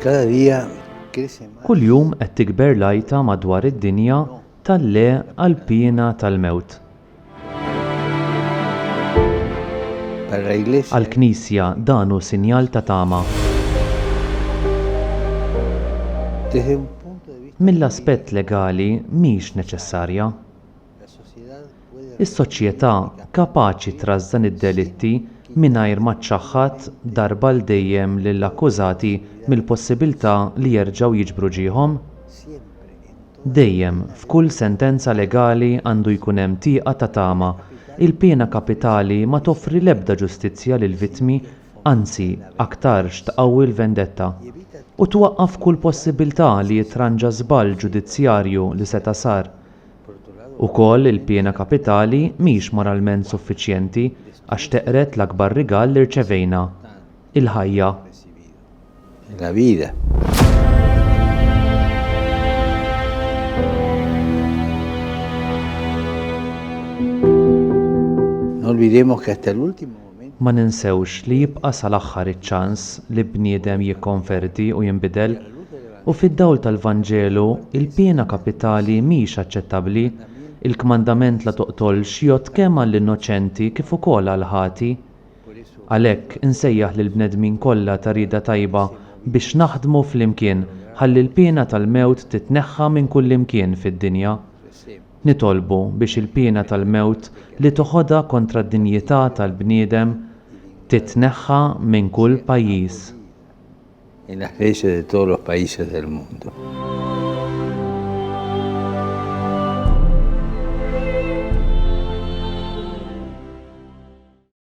Cada día crece más. Kuljum qed tikber l-għajta madwar id-dinja tal-le għall-piena tal-mewt. Para la Iglesia, Għall-Knisja dan hu sinjal ta' tama. desde un punto de vista Mill-aspett legali mhix neċessarja. Is-soċjetà kapaċi trażżan id-delitti mingħajr ma ċċaħħad darba għal dejjem lill-akkużati mill-possibilità li jerġgħu jiġbru ġieħhom? Dejjem, f'kull sentenza legali għandu jkun hemm tieqa ta' tama. Il-piena kapitali ma toffri l-ebda ġustizzja lill-vittmi, anzi, aktarx tqawwi l-vendetta. U twaqqaf kull possibilità li jitranġa żball ġudizzjarju li seta' sar. Ukoll il-piena kapitali mhix moralment suffiċjenti għax teqred l-akbar rigal li rċevejna, il-ħajja. Ma ninsewx li jibqa' sal-aħħar iċ-ċans li bniedem jikkonverti u jinbidel. U fid-dawl tal-Vanġelu, il-piena kapitali mhix aċċettabbli. Il-kmandament la toqtolx jgħodd kemm għall-innoċenti kif ukoll għall-ħati. Għalhekk, insejjaħ lill-bnedmin kollha ta' rieda tajba biex naħdmu flimkien ħalli l-piena tal-mewt titneħħa minn kullimkien fid-dinja. Nitolbu biex il-piena tal-mewt li toħodha kontra d-dinjità tal-bniedem titneħħa minn kull pajjiż. En las leyes de todos los países del mundo.